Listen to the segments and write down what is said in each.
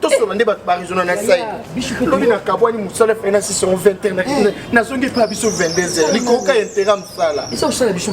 tosona nde bato barizona na sai lobi nakabwani mosala fai na 621 nazongi epa biso 22 heures likoka ya intera mosala esakosala biso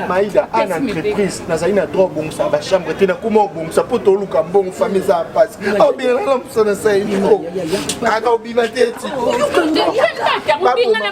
maida ana entreprise nazali na droit obongisa bachambre te nakoma obongisa mpo toluka mbongo fami eza ya mpasi aobinana na mosala sai nino aka obima te ti baboma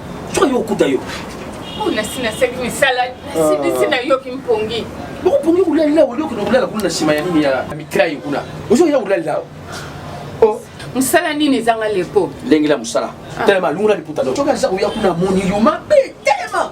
soki yo okuta yo oh, nasi nasaki misala nasilisi ah. nayoki mpongi bokopongi kolalila oyo okende kolala kuna na nsima ya nini ya mitrai kuna ozoya kolalila oh. mosala nini ezanga lepo ndenge la mosala ah. telema alungula liputa no soki aza koya kuna moni yo mabe telema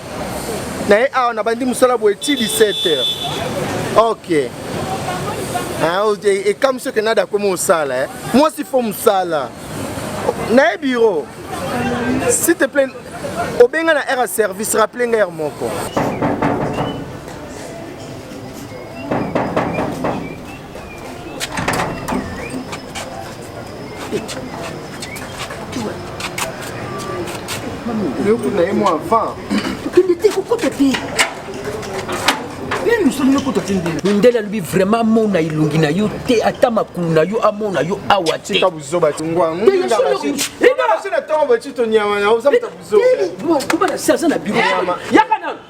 naye awa nabandi mosala boye ti 17 heures ok ah, ekamwisi oke nada akomi osala eh. mwasi fo mosala naye biro s'il te plaît obenga na aire ya service rappele nga aire moko yoku na ye mwa avant okende te kokota te mindele alobi vraiment amona elongi na yo te ata makulu na yo amona yo awa te aza na biro yaka nano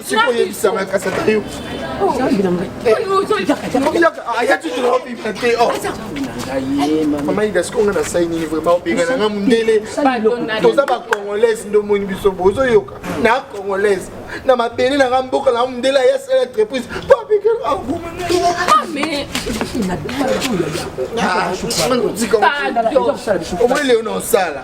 sikoyebisanga kasi ata yo mama ida siko nga nasai nini vraimen obengana nga mondele toza bacongolaise nde omoni biso bozoyoka na congolaise na mabele na nga mboka na mondele aya sala entreprise po abengana omoni leo na osala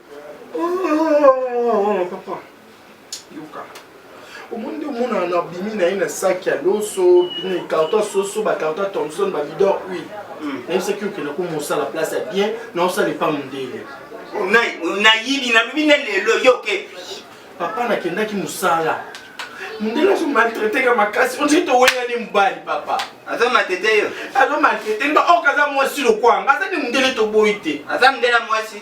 omonde omonana na bimi na ye na saki ya loso carton ya soso bacarton ya thomson babidor huile hmm. nayebisaki okende ko mosala place ya bien na osala epa mondele nayibi nalobi na lelo yoke papa nakendaki mosala mondele azo maltraite ka makasi ondiri toweyani mobali papa aza matete yo azo maltraite nga oyo kaza mwasi lokwanga aza nde mondele toboyi te aza mondele ya mwasi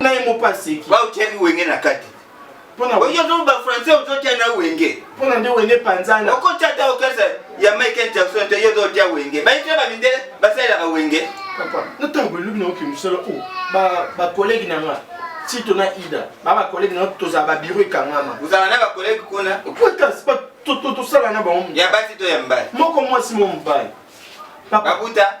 na ye moko aseki baotiaki wenge na kati oyozoba français ozotya na wenge mpona nde wenge panzana okotya ata okesa ya michael jackson te yo ozotya wenge bayitya bamindele basalelaka wenge na ntango elobi na oke mosala o bakolege na nga tito na ida ba bakolege na tozala babiro ekangama ozala na bakolege kuna okotas tosala na bango ya basi to ya mbali moko mwasi mo mobali babuta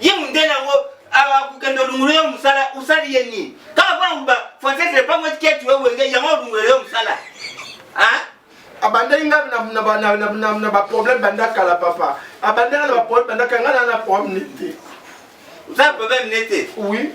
ye mundele yango akokende olungulu yo mosala osali ye nini kaka mpo yango français epango etiketi we wenge yango olungulu yo mosala abandaki nga na baproblème banda kala papa abandaki na baproblème banda kala nga na na problème nete oza na problème nete oui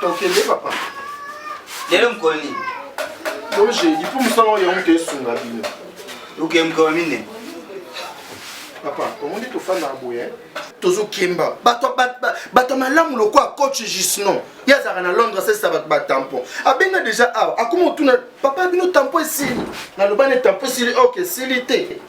tokende papa lelo mokolo nini loje lipo mosala oyo yango toesunga bino oke mokolo mine papa omoni tofanda na boye tozokemba bato malamu lokola coach gisnon ye azalaka na londres asalisa bato batampon abenga deja awa akoma otuna papa bino tampon esili naloba ne tampon esili ok esili te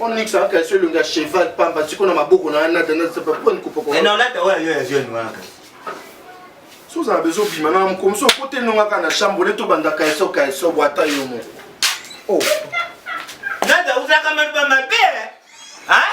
Onyx aka so elongi ya cheval pamba siko na maboko na nada na sapa po ni kopoko. Eh non lata oyo yo ya jeune wana. So za bezo bima na mkomso kote nonga kana chambre le to banda ka so ka so bwata yo mo. Oh. Nada uzaka mabamba pe. Hein?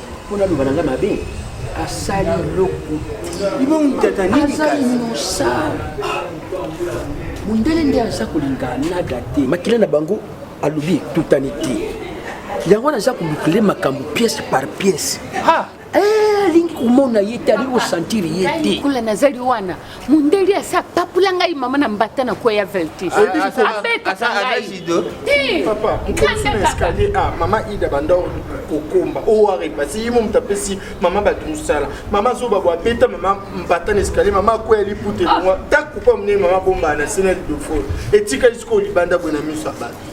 mpo naloba na ngai mabe asali eloko azali mosala mondele nde aza kolinga nada te makila na bango alobi etutani te yango wana aza kolukile makambo pièce par pièce eh, alingi komona ye te alingi kosentir ye te nazali wana mundeli asi apapula ngai mama na mbata na kweya velte abetaka ngai mama ida banda kokomba oware basi ye mo moto apesi mama bato mosala mama zoba bo abeta mama mbata na escalier mama akweya lipute longwa takupa monene mama bombaa na sena lidofo etikali sikoyo libanda boye na miso ya bato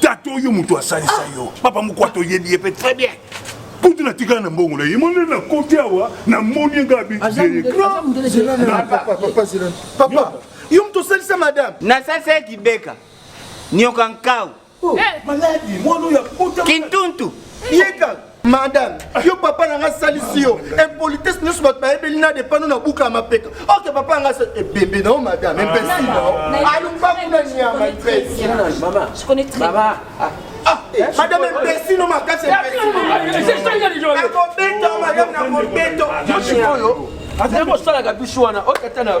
tata oyo moto asalisa ah. yo papa moko atoyebi ye mpe très bien kutu natikala na mbongo na ye moni na koti awa namoni ye ngai abipapa yo moto osalisa madame nasalisa ye kibeka nyoka nkau oh, eh. kintuntu yeka madame yo papa na nga asalisi yo impolitesse nyonso bato bayebeli na depano na buka ya mapeka oke papa nga ebembe na yo madame ebesi na yo alumba kuna nyama mpesi madame mpesi no makasi akobeta madame na kobeto oyo akosalaka biso wana okata na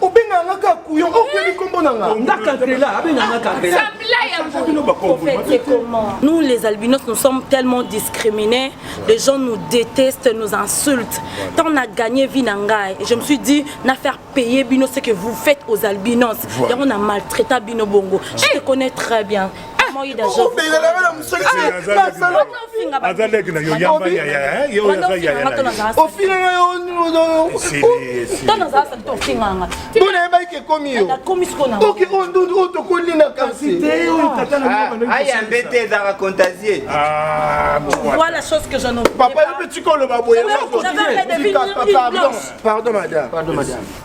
obengaka nga kaka kuyo okebi kombo na nga nga kantela abenga nga kantela nous les albinos nous sommes tellement discriminés les gens nous détestent nous insultent tant on a gagné vie na ngai je me suis dit na faire payer bino ce que vous faites aux albinos yango na maltraita bino bongo je te connais très bien aza leki na yo yamba yaya ye oyo aza yayaobona yebaki ke ekomi yo oke oyo ndundu oyo tokoli na kasiayambe te ezaka contasie papa yo mpe tika oloba boye pardon madame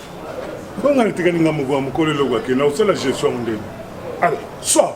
Bonga natikali nga moko ya mokolo eloko akenda osala gestion ndenge. Alors, soit